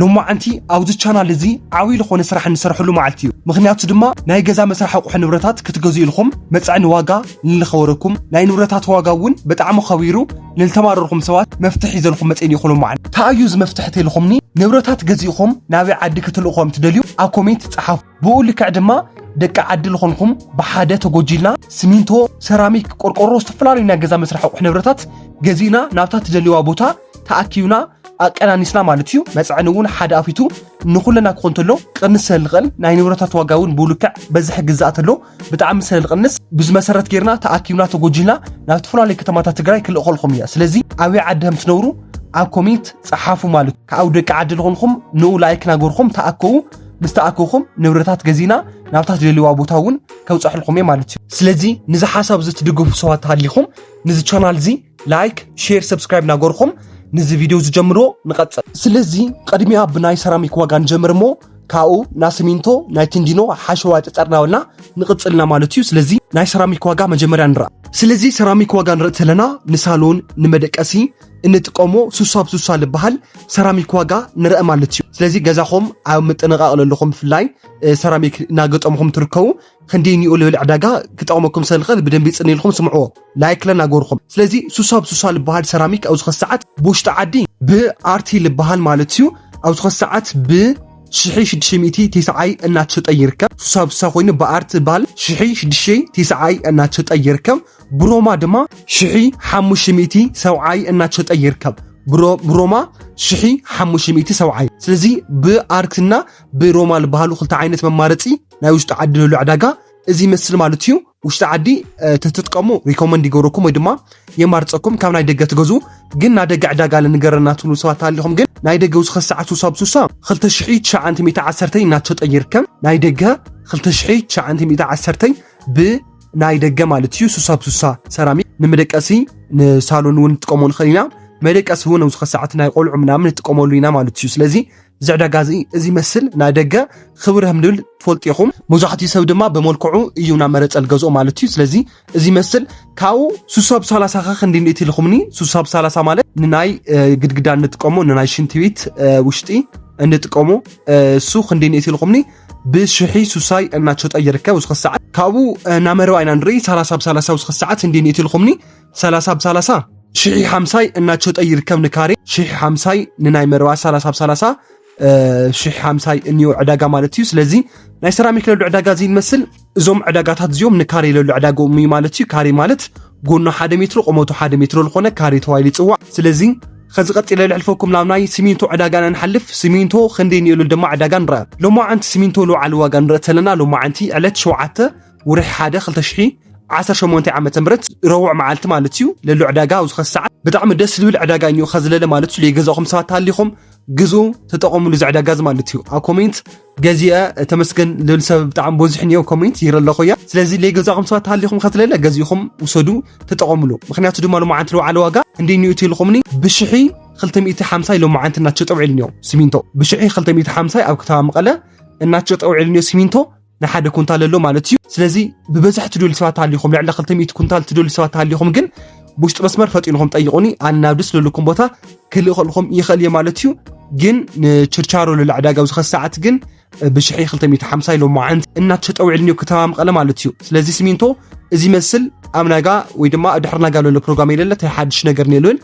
ሎማዓንቲ ኣብዚ ቻናል እዚ ዓብይ ልኾነ ስራሕ እንሰርሐሉ መዓልቲ እዩ ምኽንያቱ ድማ ናይ ገዛ መስራሕ ኣቁሑ ንብረታት ክትገዝኡ ኢልኹም መፀዕኒ ዋጋ ንልኸበረኩም ናይ ንብረታት ዋጋ እውን በጣዕሚ ኸቢሩ ንልተማረርኹም ሰባት መፍትሕ ሒዘልኹም መፅእኒ ኢኹ ሎማዓንቲ ታይ እዩ እዚ መፍትሕ ተልኹምኒ ንብረታት ገዚእኹም ናበይ ዓዲ ክትልእኹ ከም ትደልዩ ኣብ ኮሜንት ፀሓፉ ብኡ ልክዕ ድማ ደቂ ዓዲ ልኾንኹም ብሓደ ተጎጂልና ስሚንቶ ሰራሚክ ቆርቆሮ ዝተፈላለዩ ናይ ገዛ መስራሕ ኣቁሑ ንብረታት ገዚእና ናብታ ትደልይዋ ቦታ ተኣኪብና ኣቀናኒስና ማለት እዩ መፅዕኒ እውን ሓደ ኣፊቱ ንኩለና ክኾን ተሎ ቅንስ ስለልቐል ናይ ንብረታት ዋጋ እውን ብውልክዕ በዝሒ ግዛእ ተሎ ብጣዕሚ ስለልቐንስ ብዝመሰረት ጌርና ተኣኪብና ተጎጂልና ናብ ዝተፈላለዩ ከተማታት ትግራይ ክልእኸልኹም እያ ስለዚ ኣበይ ዓዲ ከም ትነብሩ ኣብ ኮሚንት ፀሓፉ ማለት ካብኡ ደቂ ዓዲ ዝኾንኹም ንኡ ላይክ ናገርኹም ተኣከቡ ምስ ተኣከኹም ንብረታት ገዚና ናብታ ትደልዋ ቦታ እውን ከብፀሕልኹም እየ ማለት እዩ ስለዚ ንዚ ሓሳብ እዚ ትድግፉ ሰባት ሃሊኹም ንዚ ቻናል እዚ ላይክ ሼር ሰብስክራይብ ናገርኹም ንዚ ቪድዮ ዝጀምሮ ንቐጽል ስለዚ ቐድሚያ ብናይ ሰራሚክ ዋጋ ንጀምር እሞ ካብኡ ናብ ሲሚንቶ ናይ ቲንዲኖ ሓሸዋ ጸጸርናበልና ንቕጽልና ማለት እዩ ስለዚ ናይ ሰራሚክ ዋጋ መጀመርያ ንርኣ ስለዚ ሰራሚክ ዋጋ ንርኢ ተለና ንሳሎን ንመደቀሲ እንጥቀሞ ሱሳ ብ ሱሳ ዝበሃል ሰራሚክ ዋጋ ንርአ ማለት እዩ ስለዚ ገዛኹም ኣብ ምጥንቓቕ ለለኹም ብፍላይ ሰራሚክ እናገጠምኹም ትርከቡ ክንደይ ኒኡ ልብል ዕዳጋ ክጠቕመኩም ሰልኸል ብደንቢ ጽን ኢልኩም ስምዕዎ ላይክ ለና ጎርኹም ስለዚ ሱሳብ ሱሳ ልበሃል ሰራሚክ ኣብዚ ኸስ ሰዓት ብውሽጢ ዓዲ ብኣርቲ ልበሃል ማለት እዩ ኣብዚ ኸስ ሰዓት ብ ሽሒ ሽዱሽተ ሚእቲ ቴስዓይ እናተሸጠ ይርከብ ሱሳ ብሱሳ ኮይኑ ብኣርቲ ባል ሽሒ ሽዱሽተ ቴስዓይ እናተሸጠ ይርከብ ብሮማ ድማ ሽሒ ሓሙሽተ ሚእቲ ሰብዓይ እናተሸጠ ይርከብ ብሮማ ሽሒ ሓሙሽተ ሚእቲ ሰብዓይ ስለዚ ብኣርትና ብሮማ ዝበሃሉ ክልተ ዓይነት መማረፂ ናይ ውሽጢ ዓዲ ንህሉ ዕዳጋ እዚ ይመስል ማለት እዩ ውሽጢ ዓዲ ተትጥቀሙ ሪኮመንድ ይገብረኩም ወይ ድማ የማርፀኩም ካብ ናይ ደገ ትገዙ ግን ናይ ደገ ዕዳጋ ንገረና ትብሉ ሰባት ኣለኹም ግን ናይ ደገ ውስኸ ሰዓት ውሳ ብሱሳ 2910 እናተሸጠ ይርከብ ናይ ደገ 2910 ብናይ ደገ ማለት እዩ ሱሳ ብሱሳ ሰራሚክ ንመደቀሲ ንሳሎን እውን ንጥቀሞ ንኽእል ኢና መደቀሲ እውን ውስኸ ሰዓት ናይ ቆልዑ ምናምን ንጥቀመሉ ኢና ማለት እዩ ስለዚ እዚ ዕዳጋ እዚ እዚ ይመስል ናይ ደገ ክብር ከም ዝብል ትፈልጡ ኢኹም መብዛሕትኡ ሰብ ድማ ብመልክዑ እዩ ናብ መረፀ ዝገዝኦ ማለት እዩ ስለዚ እዚ ይመስል ካብኡ ሱሳብ ሳላሳ ከ ክንዲ ንእቲ ኢልኹምኒ ሱሳብ ሳላሳ ማለት ንናይ ግድግዳ እንጥቀሞ ንናይ ሽንቲ ቤት ውሽጢ እንጥቀሞ እሱ ክንዲ ንእቲ ኢልኹምኒ ብሽሒ ሱሳይ እናሸጠ ይርከብ ውስኺ ሰዓት ካብኡ ናመረባ ኢና ንርኢ ሳላሳ ብ ሳላሳ ውስኺ ሰዓት እንዲ ንእቲ ኢልኹምኒ ሰላሳ ብ ሰላሳ ሽሒ ሓምሳይ እናቸጠ ይርከብ ንካሬ ሽሒ ሓምሳይ ንናይ መረባ ሰላሳ ብ ሰላሳ ሽሒ ሓምሳይ እኒኦ ዕዳጋ ማለት እዩ ስለዚ ናይ ሰራሚክ ለሉ ዕዳጋ እዚ ይመስል እዞም ዕዳጋታት እዚኦም ንካሬ ለሉ ዕዳጋኦም እዩ ማለት እዩ ካሬ ማለት ጎኖ ሓደ ሜትሮ ቆመቱ ሓደ ሜትሮ ዝኾነ ካሬ ተባሂሉ ይፅዋዕ ስለዚ ከዚ ቀፂለ ልሕልፈኩም ናብ ናይ ሲሚንቶ ዕዳጋና ንሓልፍ ሲሚንቶ ክንደይ ንየሉ ድማ ዕዳጋ ንረአ ሎማዓንቲ ሲሚንቶ ልውዓሊ ዋጋ ንረኢ ተለና ሎማዓንቲ ዕለት ሸውዓተ ውርሒ ሓደ 2018 ዓ ም ረቡዕ መዓልቲ ማለት እዩ ለሎ ዕዳጋ ኣብ ዝኸስ ሰዓት ብጣዕሚ ደስ ዝብል ዕዳጋ እዮ ከዝለለ ማለት እዩ ገዛኹም ሰባት ተሃሊኹም ግዙ ተጠቐምሉ እዚ ዕዳጋ እዚ ማለት እዩ ኣብ ኮሜንት ገዚአ ተመስገን ልብል ሰብ ብጣዕሚ በዙሕ እዮ ኮሜንት ይረ ኣለኹ እያ ስለዚ ለገዛኹም ሰባት ተሃሊኹም ከዝለለ ገዚእኹም ውሰዱ ተጠቐምሉ ምክንያቱ ድማ ሎማዓንቲ ለውዓለ ዋጋ እንዴ ኒኡ ትልኹምኒ ብሽሒ 250 ኢሎም መዓንቲ እናቸው ጠውዒልንዮ ሲሚንቶ ብሽሒ 250 ኣብ ከተማ መቐለ እናቸው ጠውዒልንዮ ሲሚንቶ ንሓደ ኩንታል ኣሎ ማለት እዩ። ስለዚ ብበዝሒ ትደልዩ ሰባት ተሃሊኹም ልዕሊ 200 ኩንታል ትደልዩ ሰባት ተሃሊኹም ግን ብውሽጢ መስመር ፈጢንኹም ጠይቁኒ ኣነ ናብ ደስ ዘለኩም ቦታ ክልእኸልኹም ይኽእል እየ ማለት እዩ። ግን ንችርቻሮ ልዕሊ ዕዳጋ ኣብዚ ኸዚ ሰዓት ግን ብሽሒ 250 ኢሎም መዓንቲ እናተሸጠ ውዒሉ እኒኦ ከተማ መቐለ ማለት እዩ። ስለዚ ሲሚንቶ እዚ መስል ኣብ ናጋ ወይ ድማ ድሕሪ ናጋ ዘሎ ፕሮግራም የለለ ታይ ሓድሽ ነገር የለን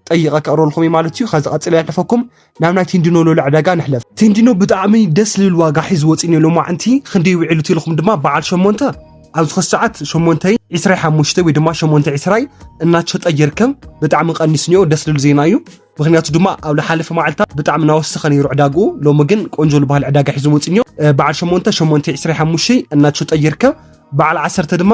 ጠይቐ ከቕርበልኩም እዩ ማለት እዩ። ከዚ ቀፅለ ያሕልፈኩም ናብ ናይ ቲንዲኖ ሎለ ዕዳጋ ንሕለፍ። ቲንዲኖ ብጣዕሚ ደስ ልብል ዋጋ ሒዙ ወፂኡ እኒኦ ሎማዕንቲ ክንደይ ውዒሉ ተኢልኹም ድማ በዓል ሸሞንተ ኣብዚ ኸዚ ሰዓት ሸሞንተ ዒስራይ ሓሙሽተ ወይ ድማ ሸሞንተ ዒስራይ እናሸጠ ይርከብ ብጣዕሚ ቀኒሱ እኒኦ ደስ ልብል ዜና እዩ ምክንያቱ ድማ ኣብ ዝሓለፈ መዓልታት ብጣዕሚ እናወሰኸ ነይሩ ዕዳግኡ ሎሚ ግን ቆንጆ ዝበሃል ዕዳጋ ሒዞ ወፂኡ እኒኦ በዓል ሸሞንተ ሸሞንተ ዒስራይ ሓሙሽተይ እናሸጠ ይርከብ በዓል ዓሰርተ ድማ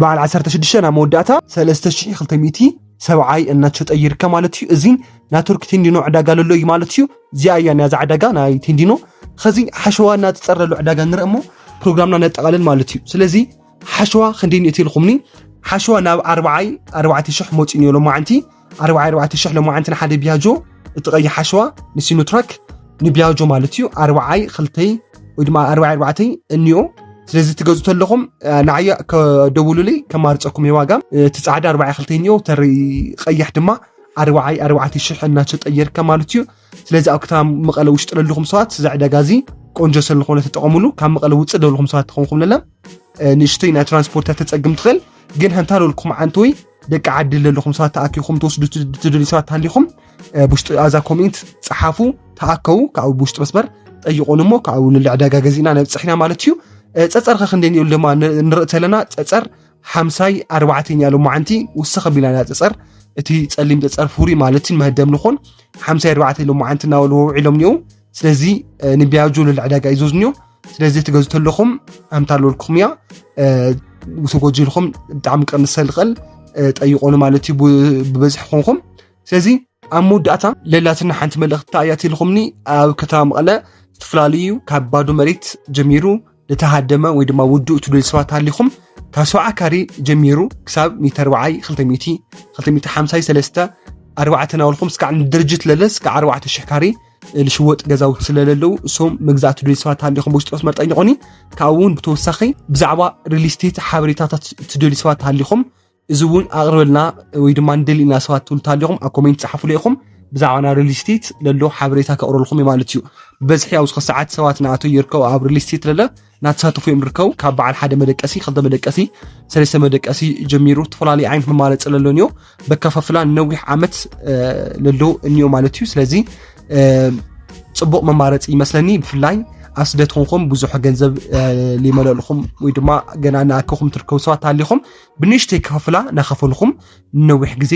በዓል ዓሰርተ ሽዱሽተ ናብ መወዳእታ ሰለስተ ሽሕ ክልተ ሚእቲ ሰብዓይ እናተሸጠ ይርከብ ማለት እዩ እዚ ናትወርክ ቴንዲኖ ዕዳጋ ለሎ እዩ ማለት እዩ እዚኣ እያ ናያዛ ዕዳጋ ናይ ቴንዲኖ ከዚ ሓሸዋ እናተፀረሎ ዕዳጋ ንርኢ እሞ ፕሮግራምና ነጠቓልል ማለት እዩ ስለዚ ሓሸዋ ክንደይ ንእቲ ኢልኩምኒ ሓሸዋ ናብ ኣርባዓይ ኣርባዕተ ሽሕ መፂኡ ነሎ ማዓንቲ ኣርብዓይ ኣርባዕተ ሽሕ ሎማዓንቲ ንሓደ ቢያጆ እቲ ቀይሕ ሓሸዋ ንሲኖትራክ ንቢያጆ ማለት እዩ ኣርብዓይ ክልተይ ወይ ድማ ኣርብዓይ ኣርባዕተይ እኒኦ ስለዚ ትገዙ ተለኹም ንዓየ ከደውሉለይ ከማርፀኩም እየ ዋጋ እቲ ፃዕዳ ኣርባዓይ ክልተይ እኒኦ ተሪ ቀይሕ ድማ ኣርባዓይ ኣርባዕተ ሽሕ እናተጠየርከ ማለት እዩ ስለዚ ኣብ ከተማ መቐለ ውሽጢ ለለኹም ሰባት እዚ ዕዳጋ እዚ ቆንጆ ስለዝኾነ ተጠቐሙሉ ካብ መቐለ ውፅእ ደለኹም ሰባት ትኾንኩም ለለ ንእሽተይ ናይ ትራንስፖርት ተፀግም ትኽእል ግን ሃንታ ለልኩም ዓንተወይ ደቂ ዓዲ ዘለኹም ሰባት ተኣኪኹም ትወስዱ ትደልዩ ሰባት ተሃሊኹም ብውሽጢ ኣዛ ኮሜንት ፀሓፉ ተኣከቡ ካብኡ ብውሽጢ መስመር ጠይቆን እሞ ካብኡ ንል ዕዳጋ ገዚእና ነብፅሕና ማለት እዩ ፀፀር ከ ክንደይ ንል ድማ ንርኢ ተለና ፀፀር ሓምሳይ ኣርባዕተኛ ሎማዓንቲ ውስኽ ኣቢልና ኢና ፀፀር እቲ ፀሊም ፀፀር ፍሩይ ማለት እዩ መህደም ንኾን ሓምሳይ ኣርባዕተ ሎማዓንቲ እናበሉ ውዒሎም እኒኦ ስለዚ ንቢያጆ ልዕሊ ዕዳጋ እዩ ዘዝንዮ ስለዚ ትገዝ ተለኹም ኣምታ ኣለልኩም እያ ውሰጎጂ ኢልኩም ብጣዕሚ ቀንሰ ዝኽእል ጠይቆኑ ማለት እዩ ብበዝሒ ኮንኩም ስለዚ ኣብ መወዳእታ ለላትና ሓንቲ መልእኽቲ እያ ትልኹምኒ ኣብ ከተማ መቐለ ዝተፈላለዩ ካብ ባዶ መሬት ጀሚሩ ልተሃደመ ወይ ድማ ውዱእ ትብል ሰባት ሃሊኹም ካብ ሰብዓ ካሬ ጀሚሩ ክሳብ ሚተር በዓይ 200 253 ኣርባዕተ ናበልኩም እስካዕ ንድርጅት ለለ እስካዕ ኣርባዕተ ሽሕ ካሬ ልሽወጥ ገዛውቲ ስለለለዉ እሶም መግዛእቲ ድልዩ ሰባት ሃሊኹም ብውሽጢ ክትመርጠኝቑኒ ካብኡ እውን ብተወሳኺ ብዛዕባ ሪል ስቴት ሓበሬታታት ትደልዩ ሰባት ሃሊኹም እዚ እውን ኣቕርበልና ወይ ድማ ንደሊ ኢና ሰባት ትብሉ እንተሃሊኹም ኣብ ኮሜንት ፀሓፉለ ኢኹም ብዛዕባ ናይ ሪል ስቴት ለሎ ሓበሬታ ከቕርበልኩም እዩ ማለት እዩ በዝሒ ኣብዚ ሰዓት ሰባት ንኣቶ ይርከቡ ኣብ ሪል ስቴት ለለ እናተሳተፉ እዮም ዝርከቡ ካብ በዓል ሓደ መደቀሲ ክልተ መደቀሲ ሰለስተ መደቀሲ ጀሚሩ ዝተፈላለዩ ዓይነት መማረፂ ለሎ እኒኦ በከፋፍላ ነዊሕ ዓመት ለሎ እኒኦ ማለት እዩ ስለዚ ፅቡቕ መማረፂ ይመስለኒ ብፍላይ ኣብ ስደት ኮንኩም ብዙሕ ገንዘብ ሊመለልኹም ወይ ድማ ገና ንኣከኹም ትርከቡ ሰባት ኣሊኹም ብንእሽተይ ክኸፍላ ናኸፈልኹም ንነዊሕ ግዜ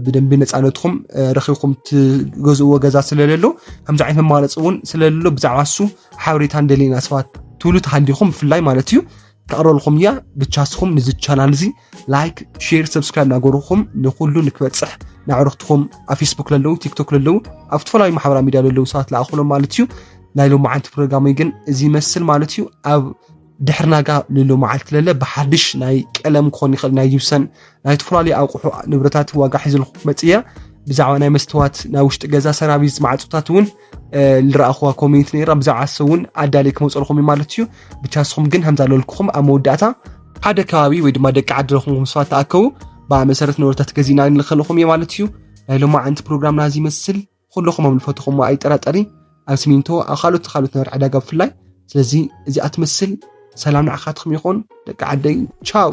ብደንቢ ነፃነትኩም ረኺብኩም ትገዝእዎ ገዛ ስለለሎ ከምዚ ዓይነት መማረፂ እውን ስለለሎ ብዛዕባ እሱ ሓበሬታ እንደሌና ሰባት ትብሉ ተሃሊኹም ብፍላይ ማለት እዩ ተቕረልኩም እያ ብቻ ስኹም ንዚ ቻናል እዚ ላይክ ሼር ሰብስክራይብ ናገርኹም ንኩሉ ንክበፅሕ ንዕርኽትኹም ኣብ ፌስቡክ ለለዉ ቲክቶክ ለለዉ ኣብ ዝተፈላለዩ ማሕበራ ሚድያ ለለዉ ሰባት ለኣኹሎም ማለት እዩ ናይ ሎሚ ዓንቲ ፕሮግራመይ ግን እዚ ይመስል ማለት እዩ ኣብ ድሕሪ ናጋ ልሉ መዓልቲ ለለ ብሓድሽ ናይ ቀለም ክኾን ይኽእል ናይ ጅብሰን ናይ ተፈላለዩ ኣቑሑ ንብረታት ዋጋ ሒዝልኩ ክመፅእ እያ ብዛዕባ ናይ መስተዋት ናይ ውሽጢ ገዛ ሰራቪስ ማዕፆታት እውን ዝረኣኹዋ ኮሚኒቲ ነራ ብዛዕባ ሰ እውን ኣዳለይ ክመፀልኹም እዩ ማለት እዩ ብቻ ስኹም ግን ከምዛ ለልኩኹም ኣብ መወዳእታ ሓደ ከባቢ ወይ ድማ ደቂ ዓዲ ረኹምኩም ሰባት ተኣከቡ ብኣ መሰረት ንብረታት ገዚእና ንልከልኹም እየ ማለት እዩ ናይ ሎማዓንቲ ፕሮግራምና እዚ ይመስል ኹሎኹም ኣብ ልፈትኹሞ ኣይጠራጠሪን ኣብ ስሚንቶ ኣብ ካልኦት ካልኦት ነበር ዕዳጋ ብፍላይ ስለዚ እዚኣ ትመስል ሰላም ንዓኻትኩም ይኹን ደቂ ዓደይ ቻው